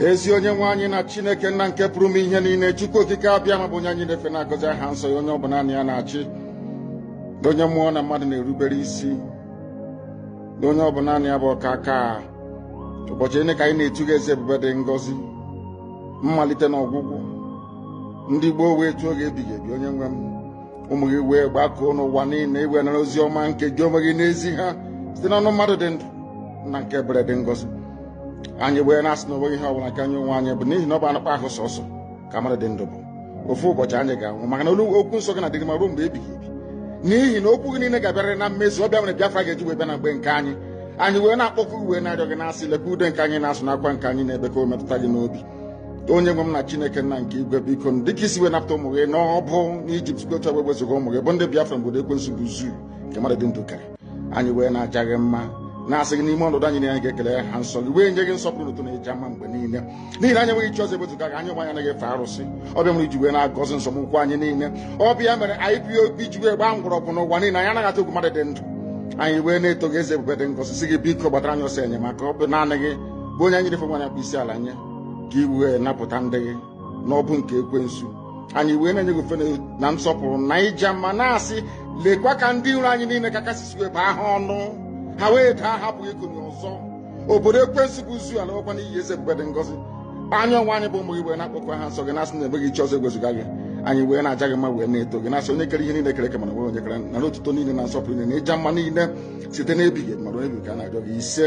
ezi onye nwe anyị na chineke nna nke pụrụ ime ihe niile chukwu okike abịama bụ onye anyị na-efe na-agọzi aha nsọ ya onye ọ bụ naanị ya na-achị onye mmụọ na mmadụ na-erubere isi onye ọ bụ naanị ya bụ ọkaka ụbọchị niile ka anyị na-etu gị eze ebube dị ngọzi mmalite na ọgwụgwụ ndị gboo wee tuo gị ebighị ebi onye nwe m ụmụ gị wee gbakọọ n'ụwa niile i wee nara ozi ọma nke gị onwe gị na-ezi ha site n'ọnụ mmadụ dị ndụ nna nke ebere dị ngọzi anyị wee na-asị na onweghị ihe ọbụla nke anyị onwe anyị bụ n'ihi na ọ bụ anụkpa ahụ sọsọ ka mmadụ dị ndụ bụ ofu ụbọchị anyị ga-anwụ maka na olu okwu nsọ gị na-adịrị ma ruo mgbe ebighị ebi n'ihi na okwu gị niile ga-abịarịrị na mmezu ọ bụ ya mere Biafra ga-eji wee bịa na mgbe nke anyị anyị wee na-akpọku wee na-arịọ gị na-asị lekwa ude nke anyị na-asụ na akwa nke anyị na-ebe ka o metụta gị n'obi onye nwe m na chineke nna nke igwe biko m dịka i si wee napụta ụmụ gị n'ọbụ n'ijipt site otu wee wezụga ụmụ gị bụ ndị biafra n'obodo ekwensu bụ zoo nke mmadụ dị ndụ kere anyị wee na-aja gị mma na-asị gị n'ime ọnọdụ anyị nọ anyị ga-ekele aha nsọ gị wee nye gị nsọpụrụ na otuto na ịja mma mgbe niile n'ihi na anyị enweghị chi ọzọ ebezuga gị anyị onwe anyị anaghị efe arụsị ọ bụ ya mere i ji wee na-agọzi nzọmụkwụ anyị niile ọ bụ ya mere IPOB ji wee gbaa mgbọrọgwụ n'ụwa niile anyị anaghị atụ egwu mmadụ dị ndụ anyị wee na-eto gị eze ebube dị ngọzi sị gị biko gbatara anyị ọsọ enyemaka ọ bụ naanị gị bụ onye anyị na-efe wee na-akpọ isi ala nye ka i wee napụta ndị gị n'ọbụ nke ekwensu anyị wee na-enye gị ofufe na nsọpụrụ na ịja mma na-asị lekwa ka ndị iro anyị niile ka i si wee bụọ ha ọnụ ha wee daa ha apụghị ikunie ọzọ obodo ekwensu bụ zoo alaakwa n'iyi eze ebube dị ngọzi anyị onwe anyị bụ ụmụ gị wee na-akpọku aha nsọ gị na-asị na enweghị chi ọzọ egwezuga gị anyị wee na-aja gị mma wee na-eto gị na-asị onye kere ihe niile e kere eke mana enweghị onye kere nara otuto niile na nsọpụrụ niile na ịja mma niile site n'ebighị ma ruo ebighị ka a na-arịọ gị ise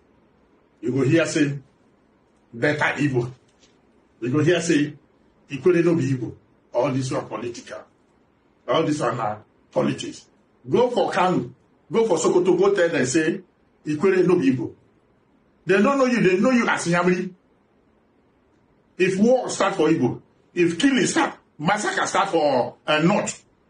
you go hear say better Igbo. You go hear say Ikwere no be Igbo. All this one political. All this one na politics. Go for Kanu. Go for Sokoto. Go tell them say Ikwere no be Igbo. They don't know you. They know you as Nyamri. If war start for Igbo, if killing start, massacre start for uh, North,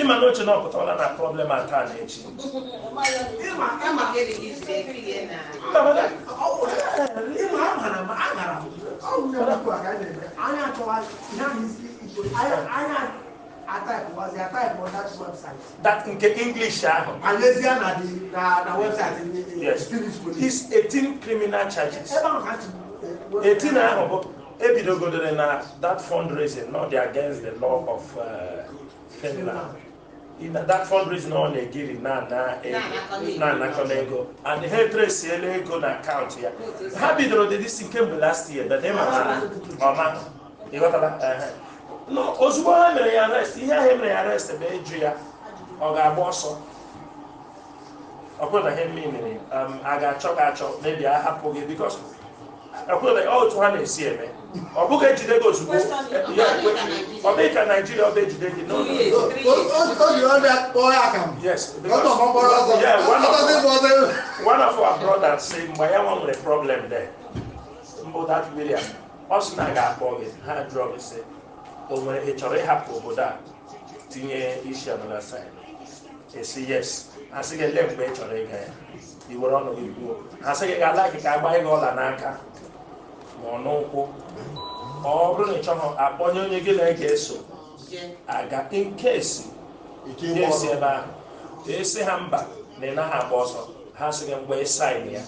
ịma na oche na ọ pụtawala na problem a taa na echi that nke english ahụ yes is 18 criminal charges 18 ahụ bụ ebidogodere na that fundraising na ọ dị against the law of uh, Finland na that fundraising ọ na-ejiri na-anakọ ego and ha etresiela ego na akaụntụ ya ha bidoro dị disi kemgbe last year but ịma na ọma ị ghọtala ozugbo ha mere ya arrest ihe ahụ e mere ya arrest bụ ịjụ ya ọ ga-agba ọsọ ọkwụdaghị ihe mere um, a ga-achọ gị achọ maybe a hapụ gị because ọkwụdaghị otu ha na-esi eme ọ bụghị ejide gị ozugbo ọ bụghị ka naijiria ọ bụ ejide gị n'ụlọ yes one of our brothers say mgbe ya nwa nwere problem there mbụ that William ọ sị na ha ga-akpọ gị ha jụọ gị sị o nwere ị chọrọ ịhapụ obodo a tinye isi another side ị sị yes asị gị ele mgbe ị chọrọ ịga ya i were ọnụ gị kwuo asị gị ga-ala gị ka a gbaa gị ọla n'aka ma ọ n'ụkwụ ma ọ bụrụ na ị chọghị akpọnye onye gị na ya ga-eso aga nkesi nkesi ebe ahụ ị sị ha mba na ị naghị agba ọsọ ha sị gị mgbe ị sign ya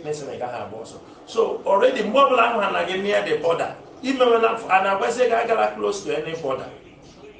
na-asị na ị gaghị agba ọsọ so already mgbe ọbụla ahụ ha na gị near the border imewela a na-agwazi gị agala close to any border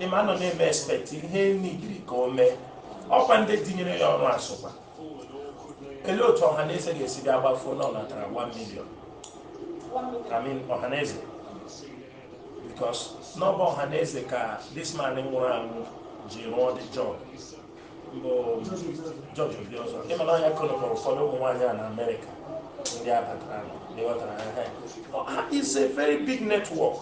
ị ma a nọ na-eme expect ihe nidiri ka o mee ọkwa ndị tinyere ya ọrụ asụkwa elee otu Ọhaneze ga-esi bịa gbafuo na ọ natara 1 million I mean Ọhaneze because na ọ bụ Ọhaneze ka this man nwụrụ anwụ ji rụọ the job bụ George Obiozor ị ma na ọ ya connect ụfọdụ ụmụ nwaanyị a na Amerịka ndị abatara na ị ghọtara ha ha is a very big network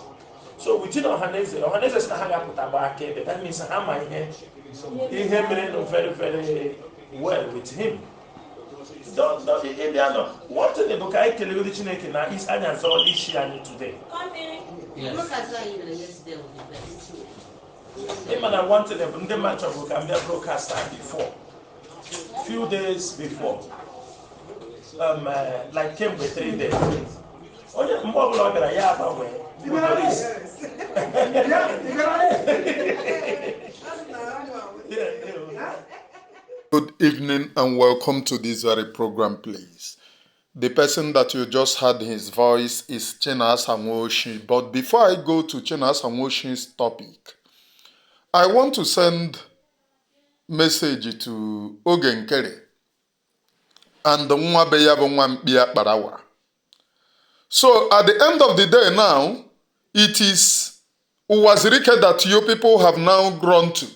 so within ọhaneze ọhaneze sị na ha ga-apụta gba akaebe that means ha ma ihe ihe merenụ very very well with him ị ma na one thing bụ ka anyị kelegodi chineke na ọ ya zọrọ isi anyị today ị ma na one thing bụ ndị mmadụ chọbụ ka m bịa broadcast before few days before um, uh, like kemgbe three days onye mgbe ọbụla ọ bịara ya agbanwe motorist. Good evening and welcome to this very program, please. The person that you just heard his voice is Chena Sanwoshi. But before I go to Chena Sanwoshi's topic, I want to send message to Oge Nkere and nwa be ya bụ nwa mkpi Akparawa so at the end of the day now it is Uwazirike that you people have now grown to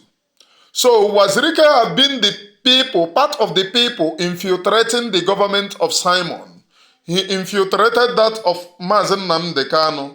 so Uwazirike have been the people part of the people infiltrating the government of Simon he infiltrated that of Mazi Nnamdi Kanu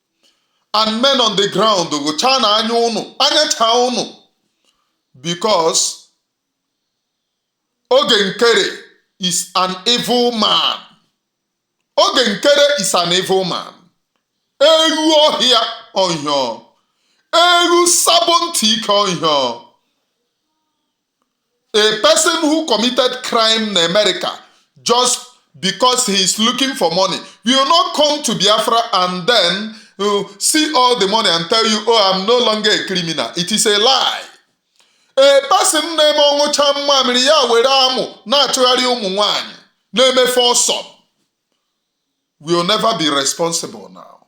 and men on the ground gụchaa na anya ụnụ anya chaa ụnụ because Oge Nkere is an evil man Oge Nkere is an evil man ewu ọhịa ọhịa ewu sabo ntị ike ọhịa A person who committed crime na America just because he is looking for money will now come to Biafra and then uh, see all the money and tell you, oh, I'm no longer a criminal. It is a lie. A person na-eme ọ nyụchaa mmamịrị ya were amụ na-achụgharị ụmụ nwanyị na-emefe ọsọ will never be responsible now.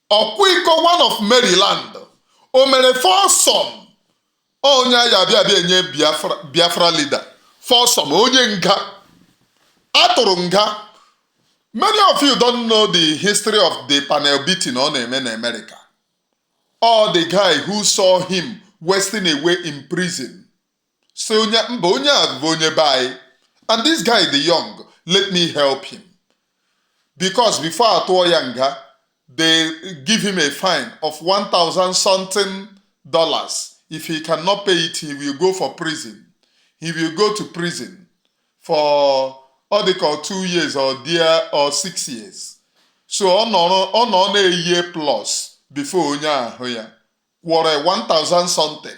ọkwa iko one of Maryland o mere foursome onye anyị abịa abịa enye Biafra Biafra leader foursome onye nga atụrụ nga many of you don't know the history of the panel beating ọ na-eme na America or the guy who saw him wasting away in prison sị onye mba onye a bụ onye be anyị and this guy dey young let me help him because before atụọ ya nga they give him a fine of 1000 something dollars if he cannot pay it he will go for prison he will go to prison for ọ dị ka two years or six years so ọ nọrọ ọ nọ na-eyi plus before onye ahụ ya kwụrụ 1000 something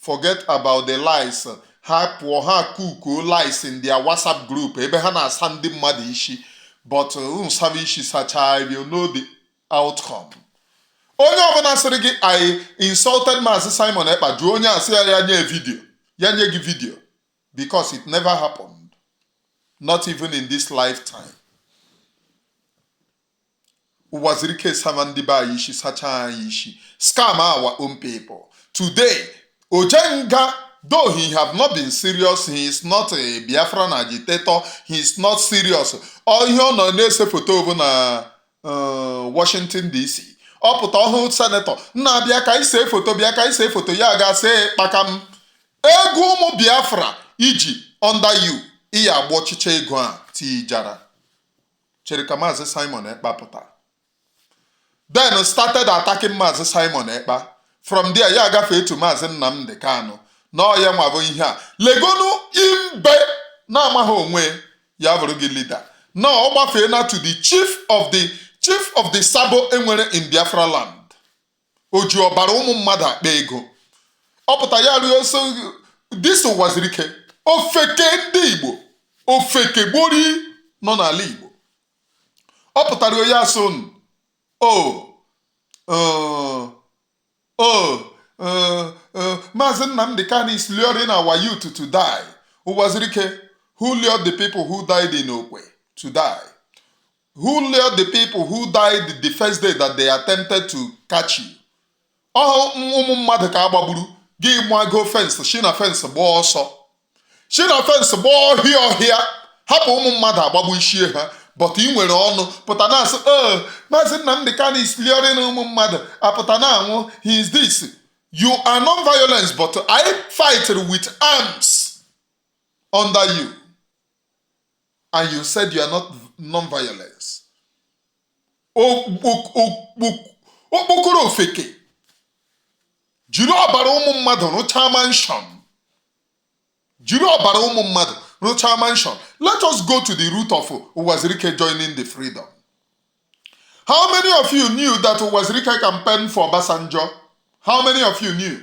forget about the lies ha pụọ ha kukuo lies in their whatsapp group ebe ha na-asa ndị mmadụ isi but unu saba isi sachaa you know the outcome onye ọbụla sịrị gị I insulted maazị simon ekpa jụọ onye a sị ya ya nye video ya nye gị video because it never happened not even in this lifetime ụwazuruike saba ndị be anyị isi sachaa anyị isi scam our own people today ojenga though he have not been serious he is not a biafran agitator he is not serious ọ ihe ọ nọ na-ese foto bụ na uh, washington dc ọ pụta ọ hụ senator nna bịa ka i see foto bịa ka i see foto ya ga see kpakam ego ụmụ biafra i ji under you iya agba ọchịchị ego a tijara chere ka maazị simon ekpa pụta then started attacking maazị simon ekpa from there ya agafee to maazị nnamdị kanụ na ọ ya nwa bụ ihe a legonu imbe na-amaghị onwe ya bụrụ gị leader na ọ gbafee na to the chief of the chief of the sabo e nwere in biafra land o ji ọbara ụmụ mmadụ akpa ego ọ pụta ya also this ụwazuruike ofeke ndị igbo ofeke gbori nọ n'ala igbo ọ pụtara ọ na-asị unu o uh, o uh, uh, maazị nnamdị kanu is luring our youth to die ụwazuruike who lured the people who died in okwe to die Who lured the people who died the first day that they attempted to catch you? ọ bụ ụmụ mmadụ ka a gbagburu gị gbago fence si na fence gbaa ọsọ si na fence gbaa ọhịa ọhịa hapụ ụmụ mmadụ a gbagbusie ha but ị nwere ọnụ pụta na-asị ee oh, maazị Nnamdi Kanu is luring ụmụ mmadụ pụta na-anwụ he is this you are non-violence but I fight with arms under you and you said you are non-violence okpokoro ofeke jiri ọbara ụmụ mmadụ rụchaa mansion jiri ọbara ụmụ mmadụ rụchaa mansion let us go to the root of Uwazuruike joining the freedom how many of you knew that Uwazuruike campaigned for Obasanjo how many of you knew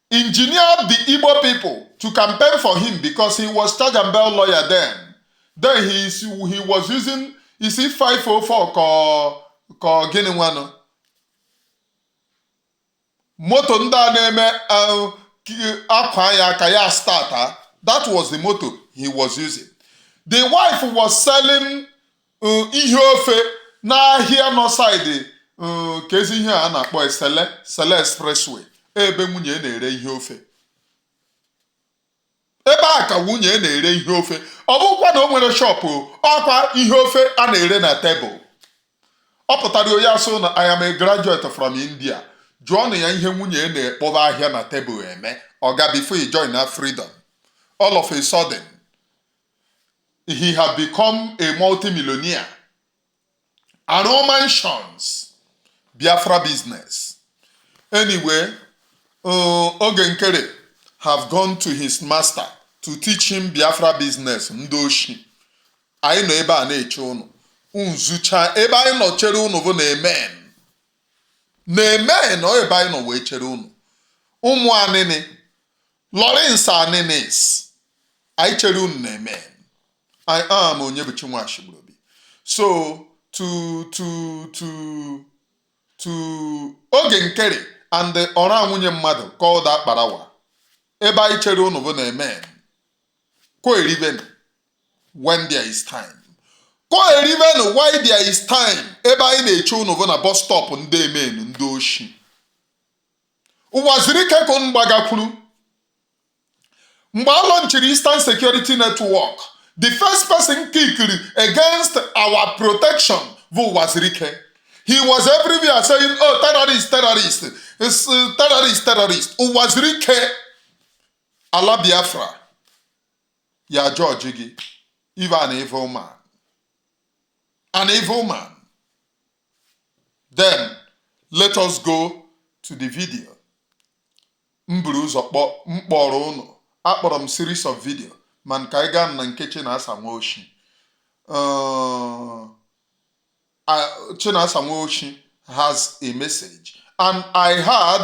engineered the Igbo people to campaign for him because he was charge and bell lawyer then. Then he, is, he was using is it 504 ka ka gịnị nwanụ moto ndị a na-eme uh, akwa ya ka ya start that was the moto he was using. The wife was selling um ihe ofe n'ahịa nọ side um, ka ezi ihe a na-akpọ e Cele Cele expressway ebe nwunye na-ere ihe ofe ebe a ka nwunye na-ere ihe ofe ọ bụkwa na o nwere shop ọkwa ihe ofe a na-ere na tebụl ọ pụtara onye asụ na I am a graduate from India jụọnụ ya ihe nwunye na-akpọba ahịa na tebụl eme ọ ga before he join na freedom all of a sudden he has become a multimillionaire. Arụ mansions, Biafra business. Anyway, uh, Oge Nkere has gone to his master to teach him Biafra business, ndị oshi. Anyị nọ ebe a na-eche ụnụ. Nzucha ebe anyị nọ chere ụnụ bụ na amen. Na amen ọ ebe anyị nọ wee chere ụnụ. Ụmụ Anini Lawrence Aninis anyị chere unu na amen I am Onyebuchi Nwachigburubi so to to to to Oge Nkere and ọra nwunye mmadụ called Akparawa ebe anyị chere unu bụ na amen koerivenu when there is time koerivenu while there is time ebe anyị na-eche unu bụ na bus stop ndị amen ndị oshi Uwazuruike ka ụnụ gbagakwuru mgbe a launchiri Eastern Security Network the first person kickiri against our protection bụ Uwazuruike he was everywhere saying oh terrorist terrorist uh, terrorist terrorist Uwazuruike ala Biafra ya-ajudge gị ị vụ an evil man an evil man then let us go to the video m buru ụzọ kpọ m kpọrọ ụnụ akpọrọ m series of video mana ka anyị gaa na nke Chinasa Nwaoshi uh, Chinasa Nwaoshi has a message and I had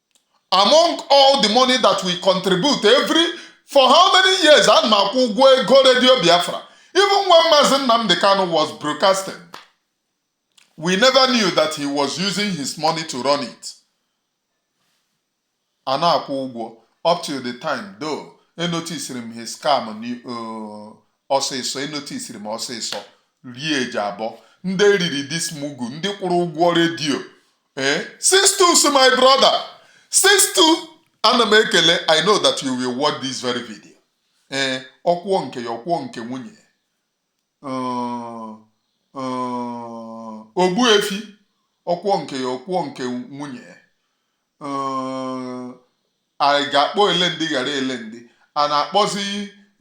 among all the money that we contribute every for how many years ana m akwụ ụgwọ ego redio Biafra even when Mazi Nnamdi Kanu was broadcasting we never knew that he was using his money to run it ana m akwụ ụgwọ up till the time though enotisiri m his scam uh, ọsịsọ enotisiri m ọsịsọ rie eji abụọ ndị e riri this mugu ndị kwụrụ ụgwọ redio ee sixtus my brother sixtus ana m ekele i know that you will watch this very video ee ọkwụọ nke ya ọkwụọ nke nwunye ya Uh, uh, ogbu efi ọkwụọ nke ya ọkwụọ nke nwunye ya Uh, anyị ga-akpọ ele ndị ghara ele ndị a na-akpọzi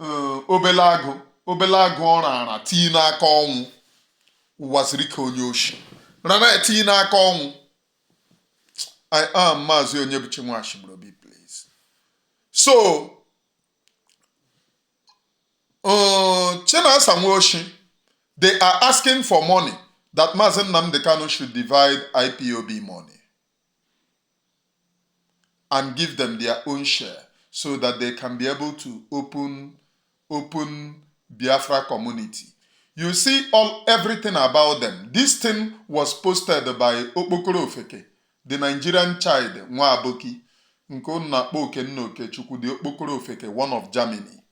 eh, obele agụ obele agụ ọ raara tii n'aka ọnwụ ụwa siri ka onye oshi rara tii n'aka ọnwụ i am maazị onyebuchi nwachibrobi please so uh, chinasa nwoshi they are asking for money that maazị nnamdi kanu should divide ipob money and give them their own share so that they can be able to open open Biafra community. You see all everything about them. This thing was posted by Okpokoro Ofeke, the Nigerian child nwa Aboki nke unu na-akpọ Okenna Okechukwu the Okpokoro Ofeke one of Germany.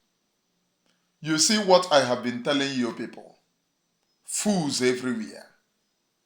You see what I have been telling you people. Fools everywhere.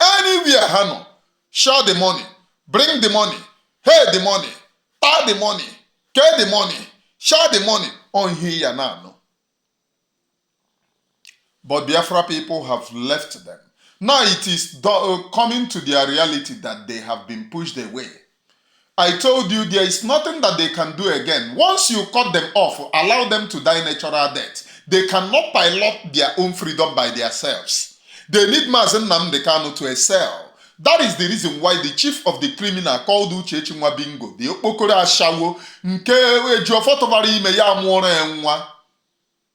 anywhere ha nọ share the money bring the money hey the money taa the money kee the money share the money on ihe ya na-anụ but Biafra people have left them now it is uh, coming to their reality that they have been pushed away I told you there is nothing that they can do again. Once you cut them off, allow them to die natural death. They cannot pilot their own freedom by themselves. They need Mazen Namde Kanu to excel. That is the reason why the chief of the criminal called Uchechi Nwabingo, the Okpokoro Ashawo, nke Ejiofor tụbara ime ya mụọrọ ya nwa.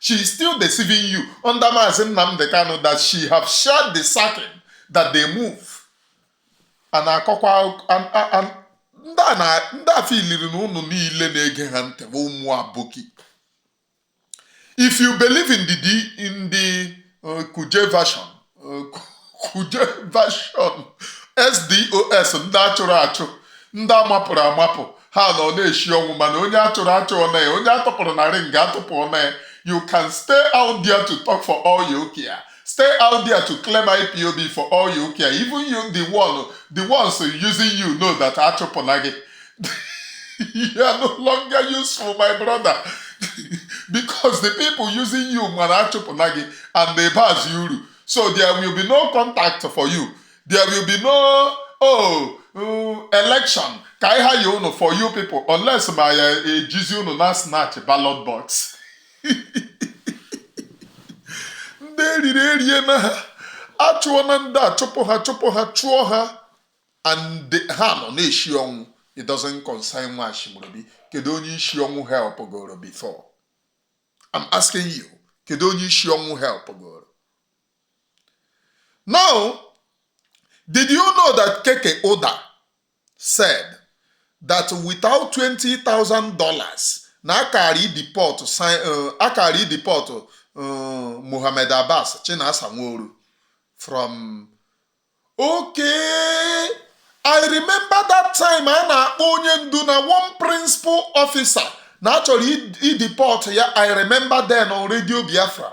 she is still deceiving you under Mazi Nnamdi Kanu that she have shared the sacking that they move a na-akọkwa ndị afọ iliri na ụnụ niile na-ege ha ntị bụ ụmụ aboki if you believe in the in the uh, kuje version kuje version ex-dos ndị a chụrụ achụ ndị a mapụrụ amapụ ha nọ na-eshi ọnwụ mana onye a chụrụ achụ ọna ya onye a tụpụrụ na ring atụpụ ọna ya you can stay out there to talk for all you care stay out there to claim ipob for all you care even you the one the ones using you know that a chụpụna gị you are no longer useful my brother because the people using you ma na a chụpụna gị and na ị bazịghị uru so there will be no contact for you there will be no oh mm, election ka anyị hire unu for you people unless ma ya ejizi unu na snatch ballot box ndị eriri eri na ha achụọna ndị a chụpụ ha chụpụ ha chụọ ha and ha nọ na-eshi ọnwụ it doesn't concern nwa Ashimorobi kedu onye isi ọnwụ help goro before I'm asking you kedu onye isi ọnwụ help goro now did you know that Keke Uda said that without $20,000 na a kara ideport uh, a kara ideport uh, Mohammed Abbas Chinasa Nworu from okay i remember that time a na-akpọ onye ndu na one principal officer na a chọrọ ideport ya i remember then on radio biafra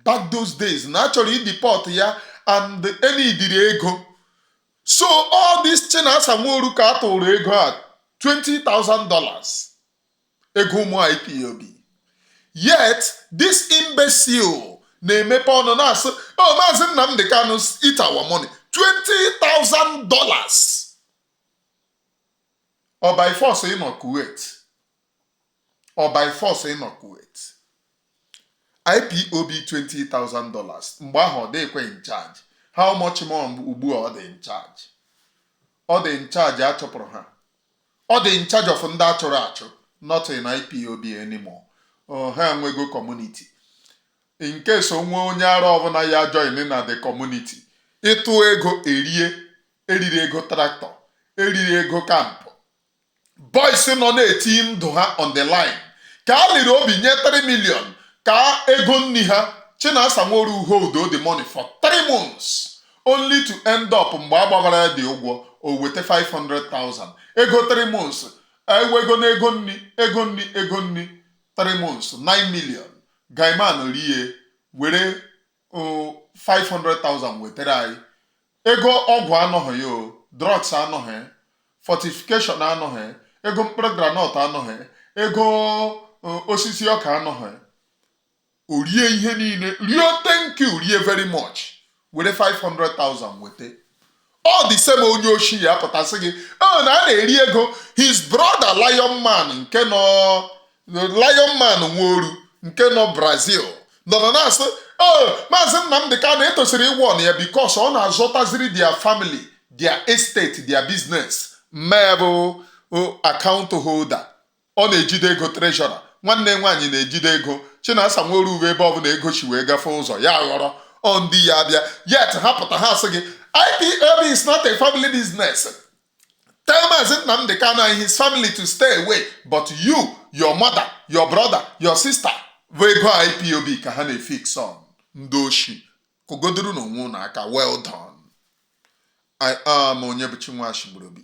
back those days na a chọrọ ideport ya and e needịrị ego so ọ this chinasa nworu ka a tụụrụ ego a $20,000 ego ụmụ ipob yet this imbecile na-emepe ọnụ na-asị o oh, maazị Nnamdi Kanu eat our money 20,000 dollars ọ by force ịnọ Kuwait ọ by force ịnọ Kuwait IPOB 20,000 dollars mgbe ahụ ọ dịkwa in charge how much more ugbu a ọ dị in charge ọ dị in charge a chọpụrụ ha ọ dị in charge of ndị a chụrụ achụ not in IPOB anymore ha enwego community in case o nwee onye ara ọbụla ya join na the community ị tụ ego e rie e riri ego tractor e riri ego camp boys nọ na-eti ndụ ha on the line ka a liri obi nye 3 million ka ego nri ha Chinasa Nworu hold the money for 3 months only to end up mgbe a gbabara ya dị ụgwọ o weta 500,000 ego 3 months ewego na ego nri ego nri ego nri 3 months 9 million guyman rie were o, 500,000 wetara anyị ego ọgwụ anọghị ya o drugs anọghị fortification anọghị ego mkpụrụ groundnut anọghị ego o, osisi ọka anọghị o rie ihe niile rie thank you rie very much were 500,000 weta all the same onye oshi ya pụta sị gị ọ na a na-eri ego his brother lion man nke nọ lion man nworu nke nọ brazil nọ na na-asị o maazị Nnamdị Kanu etosiri ịwarn ya because ọ na-azọtaziri their family their estate their business nne bụ account holder ọ na-ejide ego treasurer nwanne nwaanyị na-ejide ego Chinasa Nworu ebe ọbụla ego si wee gafee ụzọ ya ghọrọ ọ ndị ya abịa yet ha pụta ha sị gị IPOB is not a family business tell maazị Nnamdị Kanu and his family to stay away but you your mother your brother your sister bụ ego IPOB ka ha na-efeed on ndị oshi kụgodoronụ onwe ụnụ aka well done I am onye bụ Chinwe Achịgborobi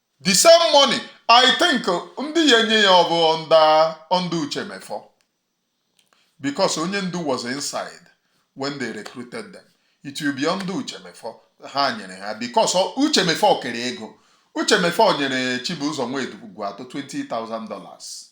the same money i think ndị ya enye ya ọ bụ ndị Uche Mefor because onye ndu was inside when they recruited them it will be ndị Uche Mefor ha nyere ha because Uche Mefor kere ego Uche Mefor nyere chibụzọ nwedu ugwu atọ 20,000 dollars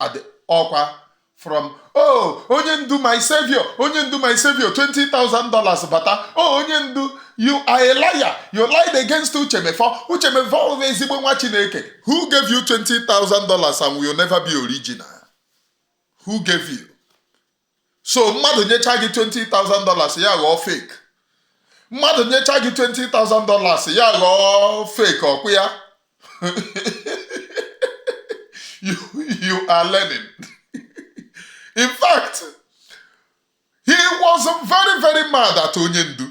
adị ọkwa from oh onye ndu my savior onye ndu my savior 20,000 dollars bata oh onye ndu you are a liar you lied against Uche Mefor Uche Mefor bụ ezigbo nwa chineke who gave you 20,000 dollars and will never be original who gave you so mmadụ nyecha gị 20,000 dollars ya ghọọ fake mmadụ nyecha gị 20,000 dollars ya ghọọ fake ọkwụ ya you, you are learning in fact he was very very mad at onye ndu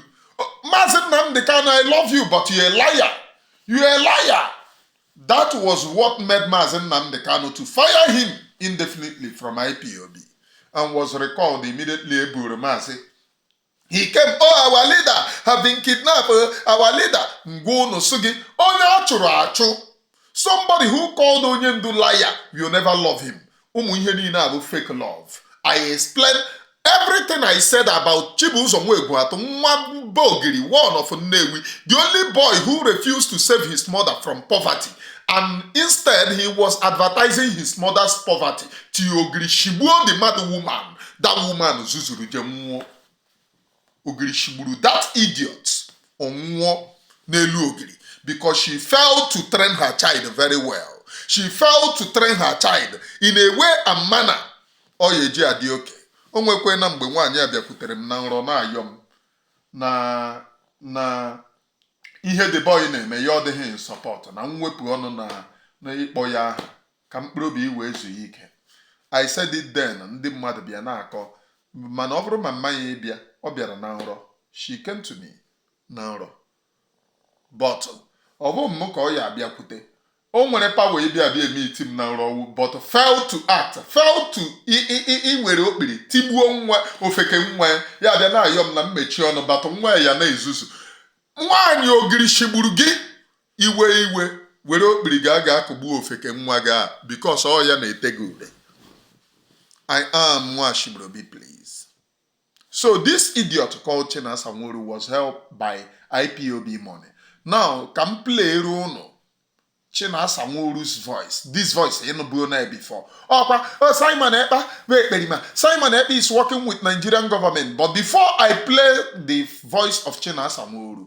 maazị Nnamdi Kanu I love you but you a liar you a liar That was what made Mazi Nnamdi Kanu to fire him indefinitely from IPOB and was recalled immediately eburu Mazi. He came, oh, our leader have been kidnapped, our leader, ngwa unu sị gị, onye a chụrụ achụ, somebody who called onye ndu liar will never love him. ụmụ ihe niile a bụ fake love i explain everything i said about Chibuzor nwa Egwuatụ nwa mba ogiri one of Nnewi the only boy who refused to save his mother from poverty and instead he was advertising his mother's poverty till ogiri shigbuo the mad woman that woman zuzuru jee nwụọ ogiri shigburu that idiot ọ nwụọ n'elu ogiri because she failed to train her child very well she failed to train her child in a way and manner ọ ya eji adị oke o nwekwe na mgbe nwaanyị a bịakwutere m na nrọ na-ayọ m na na ihe the boy na-eme ya adịghị in support na m wepụ ọnụ na na ịkpọ ya aha ka mkpụrụ obi wee zuo ya ike I said it then ndị mmadụ bịa na-akọ mana ọ bụrụ ma mama ya bịa ọ bịara na nrọ she came to me na nrọ but ọ bụ m ka ọ ya abịakwute o nwere power ịbịa abịa emeet m na nrọ ọwụ but fail to act fail to iwere okpiri tigbuo nwa ofeke nwa ya abịa na-ayọ m na m mechie ọnụ about nwa ya na-ezuzu nwaanyị ogiri shigburu gị iwe iwe were okpiri ga ga akụgbu ofeke nwa gị a because ọ ya na-ete gị ude i am nwashibrobi please so this idiot called Chinasa Nworu was helped by IPOB money now ka m playere ụnụ Chinasa Nworu's voice this voice ị nụbuo na before ọkwa oh, Simon Ekpa bụ ekperima Simon Ekpa is working with Nigerian government but before I play the voice of Chinasa Nworu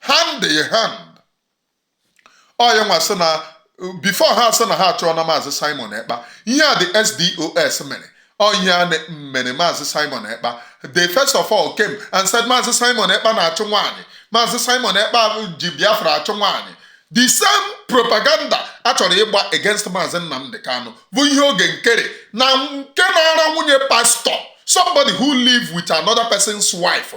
hand in hand ọ ya nwa sị na before ha sị na ha achụọna maazị simon ekpa ihe a ndị ex-DOS mere onye a na- mere maazị simon ekpa they first of all came and said maazị simon ekpa na-achụ nwaanyị maazị simon ekpa ji biafra achụ nwaanyị the same propaganda a chọrọ ịgba against maazị nnamdị kanụ bụ ihe oge nkere na nke na-ara nwunye pastor somebody who live with another person's wife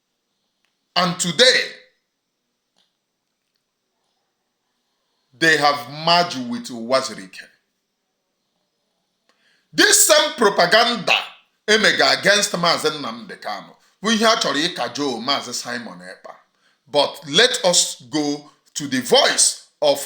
And today, they have merged with Uwazuruike. This same propaganda e mega against Maazị Nnamdi Kanu bụ ihe a chọrọ ịkajọ Maazị Simon Ekpa. But let us go to the voice of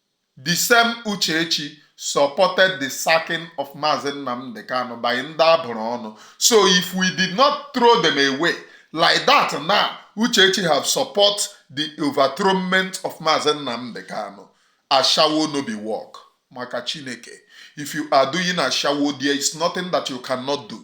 The same Uchechi supported the sacking of Mazi Nnamdi Kanu by ndị abụrụ ọnụ. So if we did not throw them away like that now, Uchechi have support the overthrownment of Mazi Nnamdi Kanu. Ashawo no be work maka Chineke. If you are doing ashawo, there is nothing that you cannot do.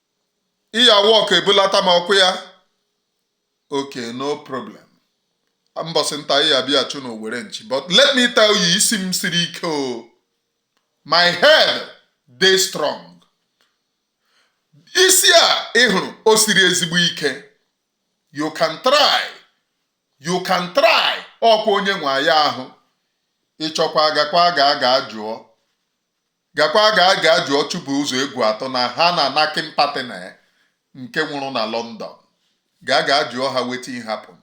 iyawa ọkụ ebulata m ọkụ ya okay no problem mbọsị nta ya bịa chụọ n'owere nchi but let me tell you isi m siri ike o oh. my head dey strong isi a ị hụrụ o siri ezigbo ike you can try you can try ọkwa onye nwe ya ahụ ị chọọkwa gakwa gaa ga jụọ gakwa gaa ga jụọ Chibuzọ Egwuatụ na ha na Nakin partner nke nwụrụ na London gaa ga jụọ ha wetin happen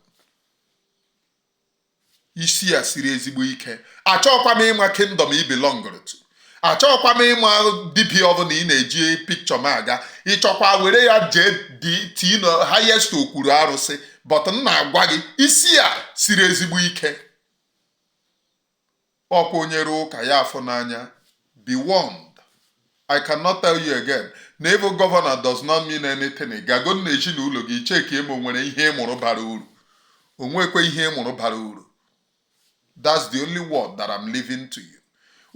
isi a siri ezigbo ike achọọkwa m ịma kingdom i belongụrụ to achọọkwa m ịma dibịa ọbụla ị na-eji picture m aga ị chọọkwa were ya jee tii na highest okwuru arụsị but m na-agwa gị isi a siri ezigbo ike ọkwa onye rụọ ụka ya afụ n'anya be warned I cannot tell you again na ịbụ governor does not mean anything gago na ezinụlọ gị checkie ma o nwere ihe ị mụrụ bara uru o nwekwe ihe ị mụrụ bara uru that's the only word that I'm leaving to you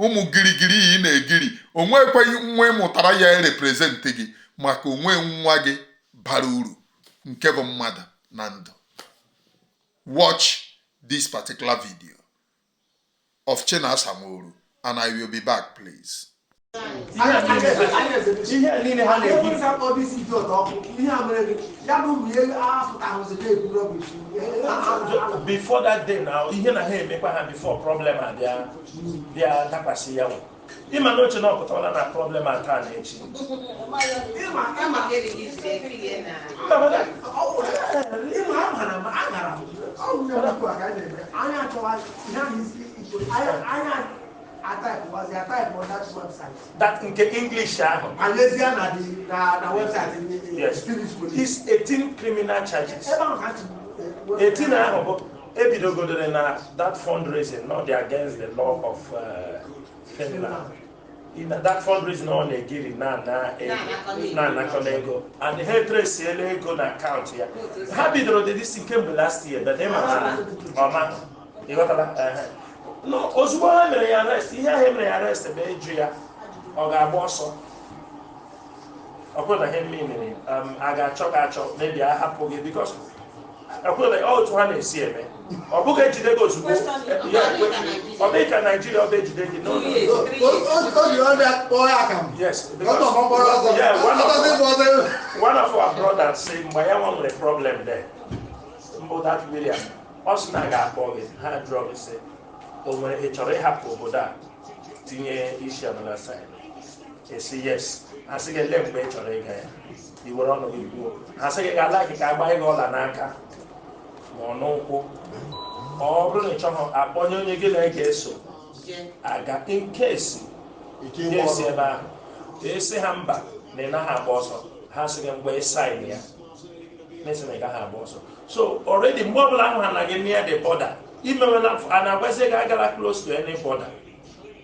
ụmụ girigiri ị na-egiri o nwekwe nwa ị mụtara ya erepresentị gị maka o nwe nwa gị bara uru nke bụ mmadụ na ndụ Watch this particular video of Chinasa Nworu and I will be back, please. Before that day now, ihe na ha emekwa ha before problem abịa bịa dakwasị ya ị ma na o che na ọ pụtawala na problem a taa na echi but nke english ahụ yes it's 18 criminal charges 18 ahụ bụ e bidogo dere na that fundraising na ọ dị against the law of uh, Finland na that fundraising ọ na-ejiri na-anakọ n'ego and ha etraceela ego na account ya ha bidoro dị disi kemgbe last year but ị ma na ọma ị ghọtala ozugbo ha mere ya arrest ihe ahụ e mere ya arrest bụ ịjụ ya ọ ga-agba ọsọ ọkwụdaghị mme mere um, a ga-achọ gị achọ mgbe a hapụ gị because ọkwụdaghị otu ha na-esi eme ọ bụghị e jide gị ozugbo ọ bụghị ka Nigeria ọ bụ e jide gị n'ụlọ yes one of our brothers sị mgbe ya nwa nwere problem there mbụ that William ọ sị na ga-akpọ gị ha jụọ gị sị o nwere ị chọrọ ịhapụ obodo a tinye isi another side ị sị yes ha sị gị ele mgbe ị chọrọ ịga ya iwere ọnụ gị kwuo ha sị gị ga-ala gị ka agba gị ọla n'aka ma ọ n'ụkwụ ọ bụrụ na ị chọghị akpọnye onye gị na ya ga-eso aga nkesi nkesi ebe ahụ ị sị ha mba na ị naghị agba ọsọ ha sị gị mgbe ị sign ya na ị sị na ị gaghị agba ọsọ so already mgbe ọbụla ahụ ha na gị near the border imewela a na-agwazi gị agala close to any border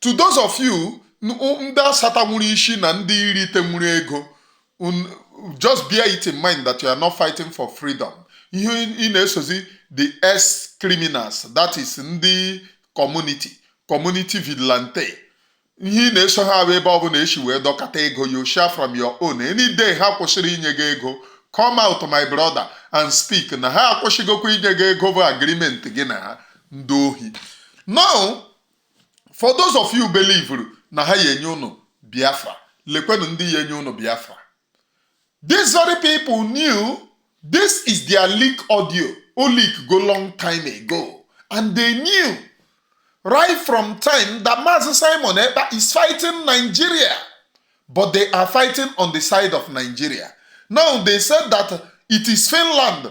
to those of you ndị asata nwere isi na ndị iri ite nwere ego just bear it in mind that you are not fighting for freedom ihe ị na-esozi DOS criminals that is ndị community community vigilante ihe ị na-eso ha bụ ebe ọ bụla e si wee dọkata ego you share from your own any day ha kwụsịrị inye gị ego come out my brother and speak na ha akwụsịgokwa inye gị ego bụ agreement gị na ha ndị ohi now for those of you believe na ha ya enye unu biafra lekwenụ ndị ya enye unu biafra these very people knew this is their leak audio o leak go long time ago and they knew right from time that Mazi Simon Ekpa is fighting Nigeria but they are fighting on the side of Nigeria now they said that it is Finland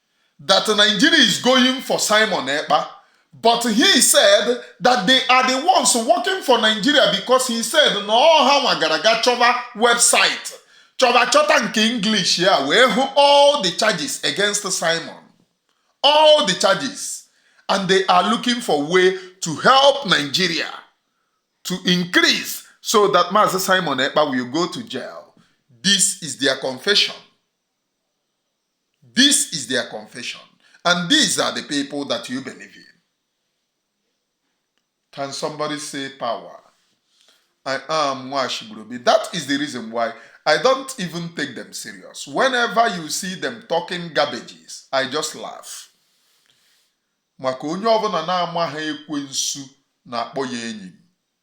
that Nigeria is going for Simon Ekpa, but he said that they are the ones working for Nigeria because he said na ọha nwa gara ga chọba website chọba chọta nke English ya wee hụ all the charges against Simon all the charges and they are looking for way to help Nigeria to increase so that Master Simon Ekpa will go to jail. This is their confession. This is their confession, and these are the people that you believe in. Can somebody say power? I am Nwashibrobi. That is the reason why I don't even take them serious. Whenever you see them talking garbages, I just laugh. maka onye ọbụla na-amaghị ekwensu na-akpọ ya enyi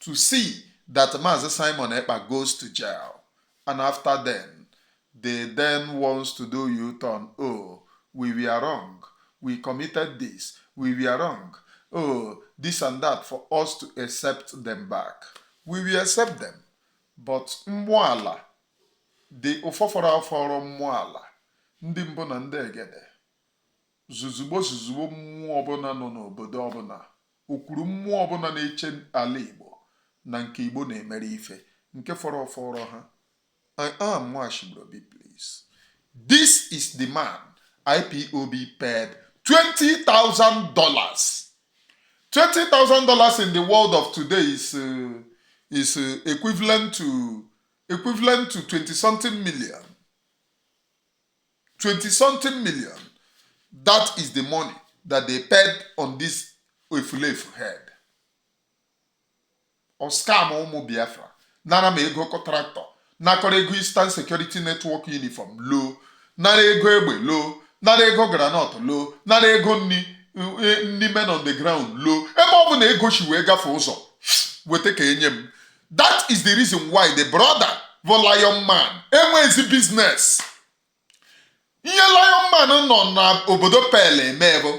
to see that Mazi Simon Ekpa goes to jail and after then, they then wants to do U-turn. Oh, we were wrong. We committed this. We were wrong. Oh, this and that for us to accept them back. We will accept them. But mmụọ ala ndị ọfọfọrọ ọfọrọ mmụọ ala ndị mbụ na ndị egede zuzugbo zuzugbo mmụọ ọbụla nọ n'obodo ọbụla okwuru mmụọ ọbụla na-eche ala Igbo na nke Igbo na-emere ife nke fọrọ fọrọ ha I am Nwachibrobi please this is the man IPOB paid $20,000 $20,000 in the world of today is uh, is uh, equivalent to equivalent to 20 something million 20 something million. That is the money that they paid on this efulefu head. Ọ scam ụmụ Biafra nara m ego tractor nakọrọ ego Eastern Security Network uniform loo nara ego egbe loo nara ego groundnut loo nara ego nri eh, nri men on the ground loo ebe ọbụna ego si wee gafe ụzọ weta ka enye m that is the reason why the brother bụ lion man enweghịzi business ihe lion man nọ n'obodo Pele eme bụ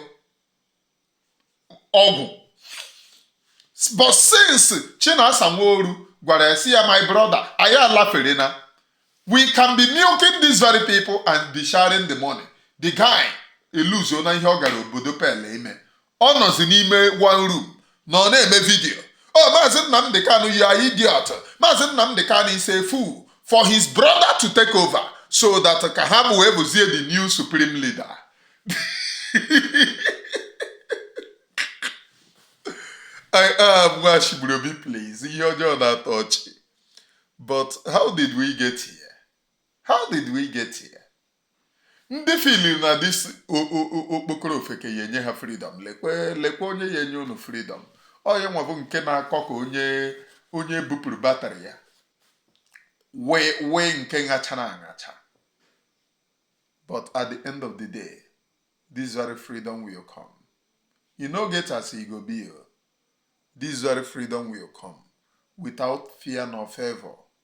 ọgwụ but since Chinasa Nworu gwara ya sị ya my brother anyị alaferena we can be milking these very people and be sharing the money the guy elozona ihe ọ gara obodo Pele ime ọ nọzi n'ime one room na ọ na-eme vidiyo o oh, maazị Nnamdị Kanụ you are idiot maazị Nnamdị Kanụ is a fool for his brother to take over so that ka ha bụ wee bụzie the new supreme leader I am Nwachigburobi please ihe ọjọọ na-atọ ọchị but how did we get here? How did we get here? ndị feel-iri na this okpokoro ofeke ya-enye ha freedom lekwe lekwe onye ya-enye unu freedom onye nwa bụ nke na-akọ ka onye onye bupụrụ battery ya wee wee nke ṅachara aṅacha but at the end of the day this very freedom will come e no get as e go be o this very freedom will come without fear nor favor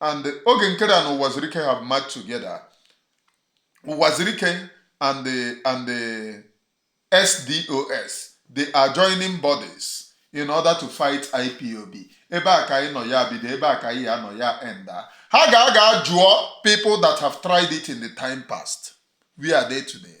and Oge Nkere and Uwazuruike have merged together Uwazuruike and the, and the ex-DOS the adjoining bodies in order to fight IPOB ebe a ka anyị nọ ya bido ebe a ka anyị ya-anọ ya endie ha ga-aga jụọ people that have tried it in the time past where are they today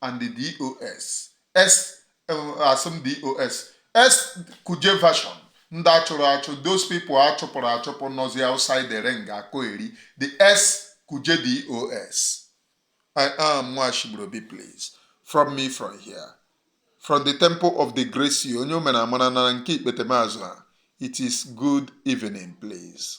and the DOS ex asị m DOS ex-Kuje version ndị a chụrụ achụ those people a chụpụrụ achụpụ nọzi outside the ring akọheri the ex-Kuje DOS I am Nwachigburobi please from me from here from the temple of the grace onye o meere amara na nke ikpetemazụ a it is good evening please